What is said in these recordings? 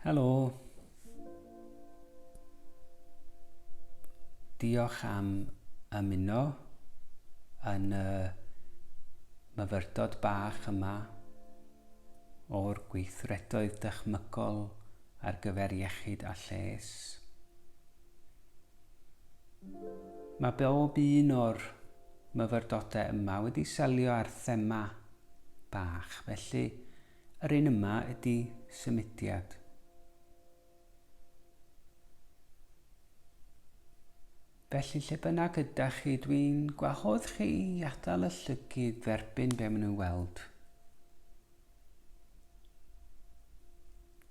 Helo. Diolch am ymuno yn y myfyrdod bach yma o'r gweithredoedd dychmygol ar gyfer iechyd a lles. Mae bob un o'r myfyrdodau yma wedi selio ar thema bach. Felly, yr un yma ydy symudiad. Felly lle bynnag yda chi, dwi'n gwahodd chi i adael y llygyd dderbyn be maen nhw'n weld.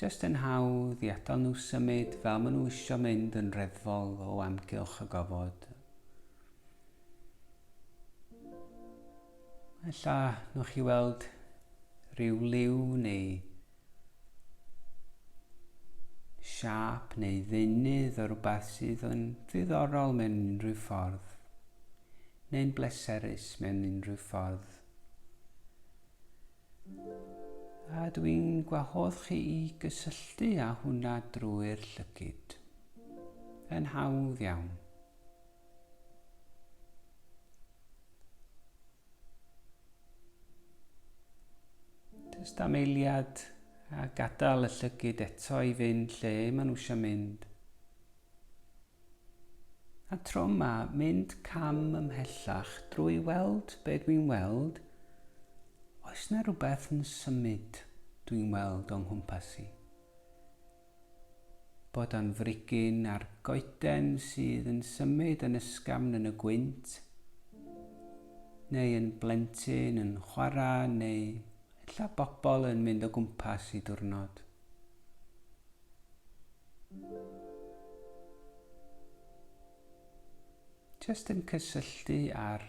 Just yn hawdd i adael nhw symud fel maen nhw eisiau mynd yn reddfol o amgylch y gofod. Ella nwch chi weld rhyw liw neu siap neu ddeunydd o rhywbeth sydd yn ddiddorol mewn unrhyw ffordd, neu'n bleserus mewn unrhyw ffordd. A dw i'n gwahodd chi i gysylltu â hwnna drwy'r llygyd. Yn hawdd iawn. Jyst am eiliad a gadael y llygyd eto i fynd lle maen nhw eisiau mynd. A tro yma, mynd cam ymhellach drwy weld be dwi'n weld, oes na rhywbeth yn symud dwi'n weld o'n nghwmpas i? bod o'n frigyn a'r goeden sydd yn symud yn ysgafn yn y gwynt, neu yn blentyn yn chwarae neu ella bobl yn mynd o gwmpas i diwrnod. Just yn cysylltu â'r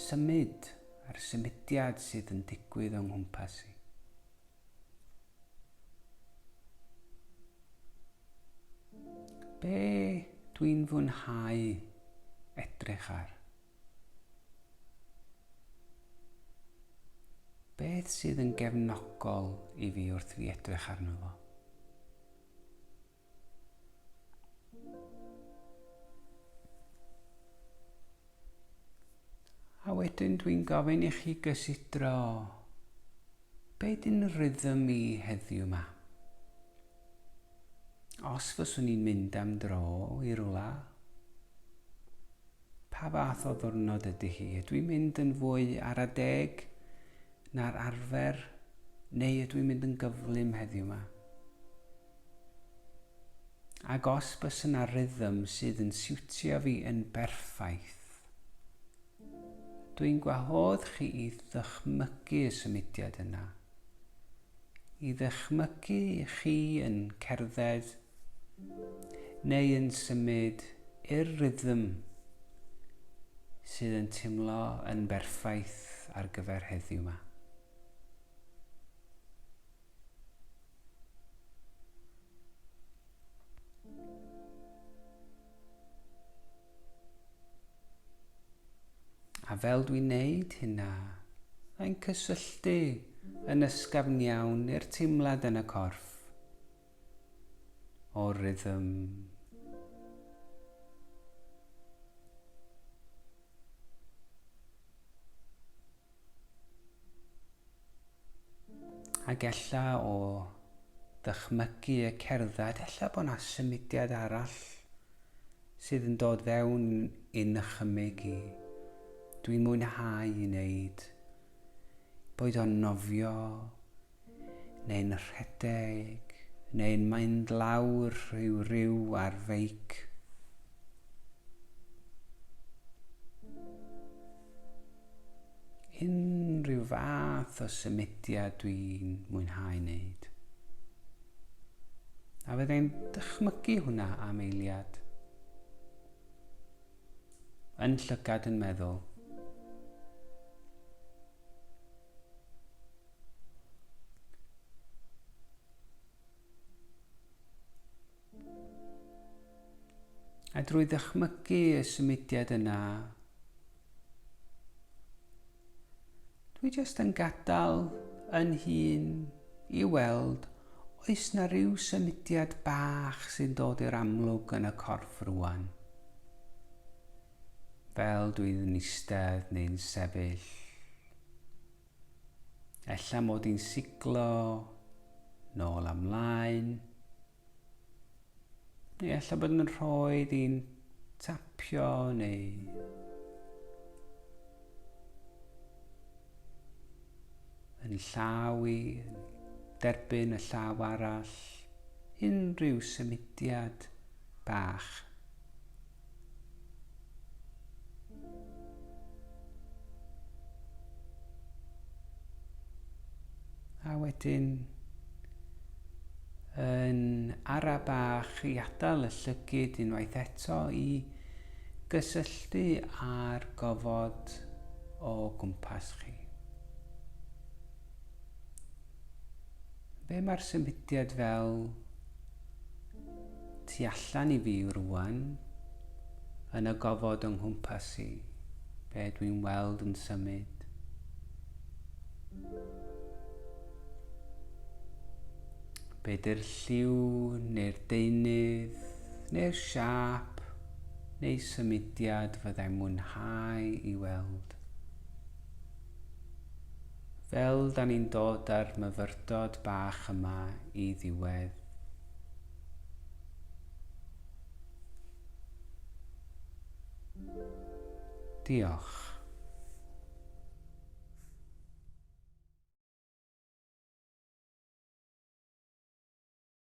symud, a'r symudiad sydd yn digwydd o'n nghwmpas i. Be dwi'n fwynhau edrych ar? Beth sydd yn gefnogol i fi wrth fi edrych arno fo? A wedyn dwi'n gofyn i chi gysidro be dyn rhythm i heddiw ma. Os fyswn i'n mynd am dro i rwla, pa fath o ddwrnod ydy hi? Ydw i'n mynd yn fwy ar a deg na'r arfer neu ydw i'n mynd yn gyflym heddiw ma? Ac os bys yna rhythm sydd yn siwtio fi yn berffaith. Dw i'n gwahodd chi i ddychmygu y symudiad yna. I ddychmygu i chi yn cerdded neu yn symud i'r rhythm sydd yn timlo yn berffaith ar gyfer heddiw yma. A fel dwi'n neud hynna, mae'n cysylltu yn ysgafn iawn i'r teimlad yn y corff o rhythm. Ac ella o ddychmygu y cerdded, ella bod yna symudiad arall sydd yn dod fewn i nychymyg i. Dwi'n mwynhau i wneud. Boed o'n nofio, neu'n rhedeg, neu'n mynd lawr i'w ryw ar feic. Unrhyw fath o symudiad dwi'n mwynhau wneud. A fyddai'n dychmygu hwnna am eiliad. Yn llygad yn meddwl. A drwy ddychmygu y symudiad yna, dwi jyst yn gadael yn hun i weld oes na ryw symudiad bach sy'n dod i'r amlwg yn y corff rwan. Fel dwi'n eistedd neu'n sefyll. Ella mod i'n siglo nôl a mlaen. Neu ella bod yn rhoi i'n tapio neu yn llaw i derbyn y llaw arall unrhyw symudiad bach A wedyn yn ara bach i atal y llygyd unwaith eto i gysylltu â'r gofod o gwmpas chi. Be mae'r symudiad fel tu allan i fi rwan, yn y gofod yng nghwmpas i, be dwi'n weld yn symud. Be dy'r lliw neu'r deunydd neu'r siap neu symudiad fyddai'n mwynhau i weld. Fel 'da ni'n dod â'r myfyrdod bach yma i ddiwedd, Diolch.